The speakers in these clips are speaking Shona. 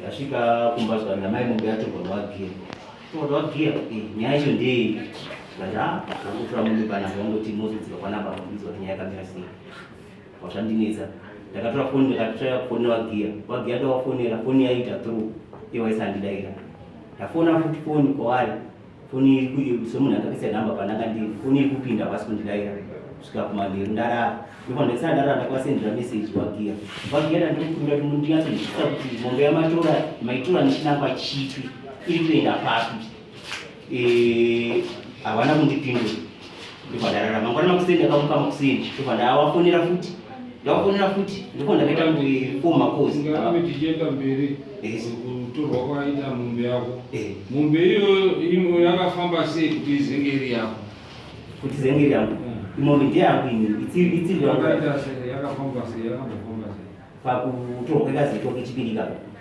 Ndasvika kumba zvangu namai mombe yatorwa nwagiya. Torwa nwagiya? Eh, nyaya yacho ndeyei? Ndati ah, zvangotora mombe pana zvangoti mozodzika kwana baba kuudzwa kuti nyaya yakamira sei. Wazvandinetsa. Ndakatora foni ndakatora foni nwagiya. Nwagiya ndakafonera foni yaita through. Iye waisandida ira. Ndafona futi foni kwaari. foni iri kuyi semunhu akakaisa number pandanga ndiri foni iri kupinda havasi kundidaira kusvika kumanheru ndarara ndofana ndisana ndarara ndakwasendera message wagiya wagiya ndandikumbira kuti ndinyatsonzwisisa kuti mombe yamatora maitora ndichinamba chipi iri kuenda papi eh, havana kundipindura ndobva ndarara mangwana makuseni ndakamuka makuseni ndobva ndavafonera futi ndavafonera futi ndobva ndakaita kuti four macosi ngave tichienda mberi kutorwa kwaita mombe yako eh. mombe iyoyo yakafamba sei kuti izenge iri yako kuti izenge iri yangu eh. imombe ndeyangu ini itsiri yangu yakafamba sei yakambofamba sei pakutorwa kwekazi itoke chipiri ikako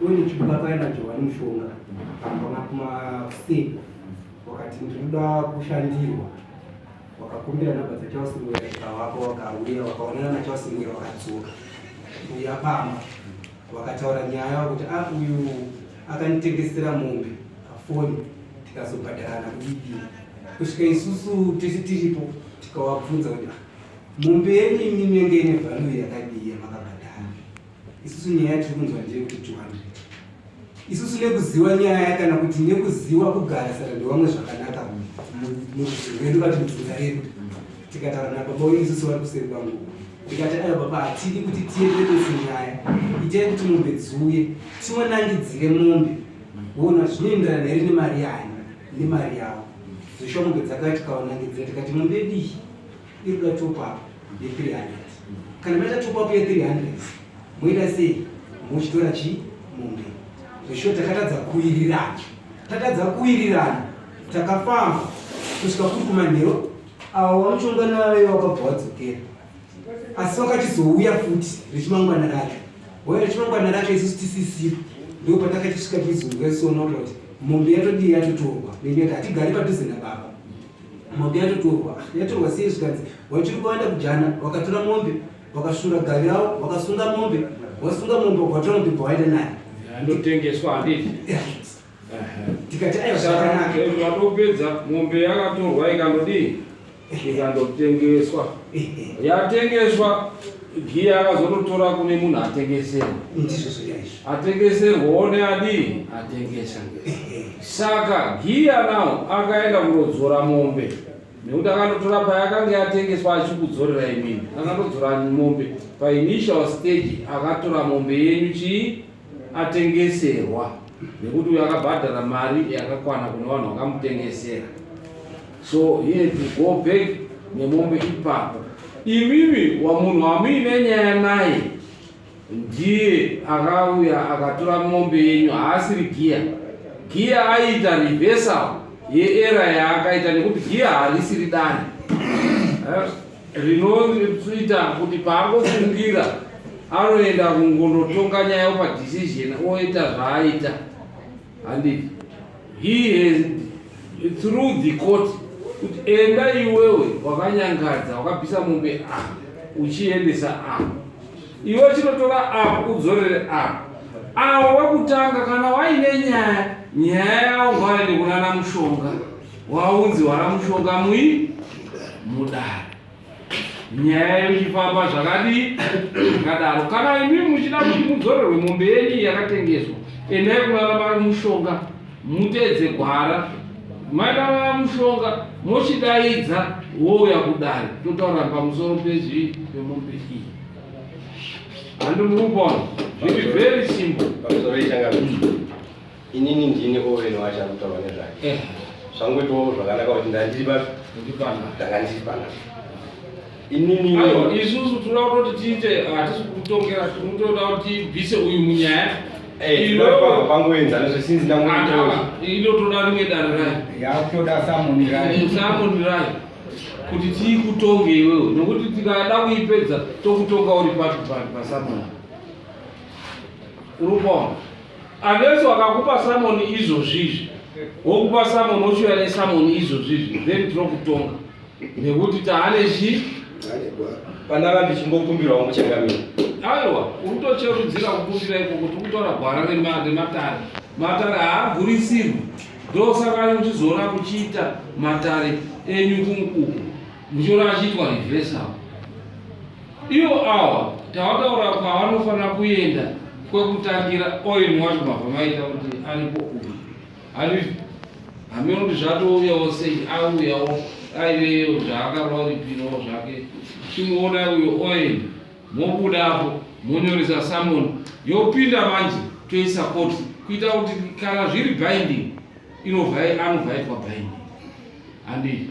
Uyu chipula kaenda Johani mushonga kana kuma state wakati ndinoda kushandirwa wakakumbira namba dzachausingwira ikavako wakauya wakaonana nachausingwira wakadzoka uya pama wakataura nyaya wakuti a ah, uyu akanditengesera mombe afoni tikazobhadharana kudidi kusvika isusu tese tiripo tikawabvunza kuti ah, mombe yenyu imimi yenge ine vhalu yakadii yamakabhadhara isusu nyaya tiri kunzwa ndeyekuti 200 isusu nekuziva nyaya kana kuti nekuziva kugarisana nevamwe zvakanaka muzvirwendo vati mudzinza redu tikataura nababa wenyu isusu vari kuseri kwangu ndikati ayo baba hatidi kuti tiendekese nyaya itai kuti mombe dziuye tiwanangidzire mombe wona zvinoenderana here nemari yani nemari yavo dzoshomoge dzakati kawanangidzira tikati mombe dii irikuda top up ye 300 kana maita top up ye 300 moita sei mochitora chi mombe zveshuwa takatadza kuwirirana tatadza kuwirirana takafamba kusvika kuri kumanhero awa wamuchongana vave wakabva wadzokera asi wakachizouya futi rechimangwana racho hoya rechimangwana racho isusu tisisipo ndo patakachisvika tizunga sona kuti mombe yatodii yatotorwa nenyoda hatigari padhuze nababa mombe yatotorwa yatorwa sei zvikanzi wachiri kuenda kujana wakatora mombe wakasvura gavi ravo wakasunga mombe wasunga mombe wakatora mombe bva waenda naye anotengeswa handiti tikati aiwa zvakanaka vatopedza mombe yakatorwa ikandodii ikandotengeswa yatengeswa giya akazototora kune munhu atengeserwa atengeserwa one adii atengesa Saka Giya now akaenda kundodzora mombe nekuti akandotora payakange yatengeswa achikudzorera imini akandodzora mombe painitial stage akatora mombe yenyu chii atengeserwa nekuti uyo akabhadhara mari yakakwana kune vanhu vakamutengesera so he had to go back nemombe ipapo imimi wamunhu wamuine nyaya naye Ndiye akauya akatora mombe yenyu, haasiri giya. Giya aiita reversal yeera yaakaita nekuti giya harisiri dani eh, rinoita kuti paangofungira anoenda kungonotonga nyaya padecision oita zvaaita Handiti he has through the court kuti enda iwewe wakanyangadza wakabvisa mombe a uchiendesa a iwe chinotora a udzorere a awo wekutanga kana waine nyaya nyaya yawo ngwaende kunana mushonga waunzi wana mushonga mui mudare nyaya yenyu ichifamba zvakadii zvakadaro kana imi muchida kuti mudzorerwe mombe yenyu yakatengeswa endai kunana mai mushonga muteedze gwara mainana mushonga mochidaidza wouya kudari totaura pamusoro pezvi pemombe iyi handimukupona zviri very simple inini ndini owen wacho akutaura nezvake eh. zvangoitawo zvakanaka kuti ndandiri papi ndanga ndiri panapa inini isusu tinoda kutoti tiite hatisi kutongera tinotoda kuti tibvise uyu munyaya eh, pangoenzana zvesinzi ndangilo toda rimwe dare rayo yakutoda samoni rayo samoni rayo kuti tiikutonge iwewe nokuti tikada kuipedza tokutonga uri papi papi pasamoni uri kuona Unless wakakupa salmon izvozvizvi, wokupa salmon wochiuya nesalmon izvozvizvi, then tinokutonga nekuti taane chii pandanga ndichimbokumbirawo muchangamira aiwa uri kutocherudzira kukumbira iko kuti ukutora gwara rematare matare haagurisirwi ndosaka uchizoona kuchiita matare enyu kunkuku Muchiona achiitwa reverse apo. Ivo awa tawataura kwavanofanira kuenda kwekutangira oil wacho mabva maita kuti aripo uyu. Ari hameno kuti zvatouyawo sei auyawo aiveyo zvaakarova ripiro zvake chimuona uyo oil mobuda apo monyoresa samon yopinda manje toisa koti kuita kuti kana zviri binding inovai anobva aitwa binding handii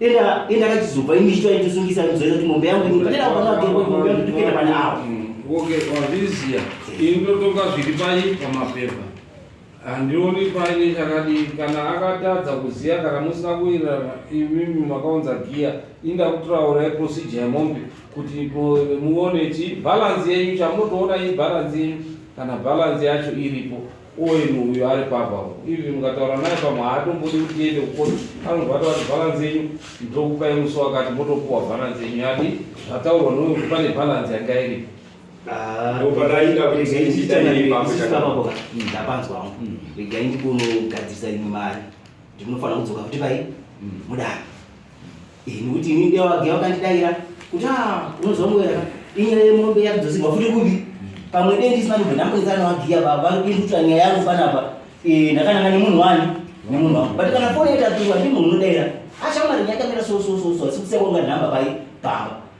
Enda enda kachizobva imi chitwa ndisungisa ndizoita kuti mombe yangu imi panera pano atengo mombe yangu tikenda pana awo. Okay, wazviziya. Inotoka zviri pai pamapepa. Handioni paine chakadii kana akatadza kuziya kana musina kuirana imimi makaunza giya inda kutiraura procedure yemombe kuti muone ti balance yenyu chamunotoona i balance yenyu kana balance yacho iripo Oil uyo ari papa ivi mukataura naye pamwe haatombodi kuti tiende kukoti anobva atavati bhalanzi yenyu ndokupai musi wakati motopuwa bhalanzi yenyu yadi zvataurwa noyo kuti pane bhalanzi yanga iripo ndapanzwa wangu regai ndikunogadzirisa imwe mari ndinofanira kudzoka kuti pai mudaro Eh, nekuti ini ndiye wage wakandidaira kuti a ah, unonzwa mweya inyaya yemombe yakudzosirwa futi kupi pamwe dei ndisina kubva ndambonetsana wagiya baba vari kuindutira nyaya yangu panapa eh, ndakananga nemunhu wani nemunhu wangu but kana foni yatapiwa ndimunhu unodaira ashamari nyakamira sosososo asi kusekonga nhamba pai pamba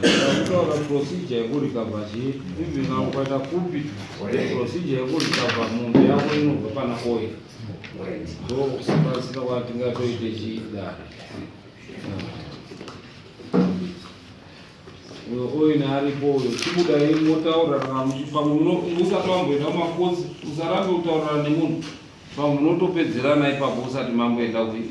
Kutora procedure yekurecover chii even kana ukaita kupi procedure yekurecover mombe yako inobva pana oil so kusipasira kwati ngatoite chii dare uyo oil aripo uyo chibuda imi motaura pamwe usati wamboenda kumakosi usarambe kutaurira nemunhu pamwe munotopedzerana ipapo usati mamboenda kumakosi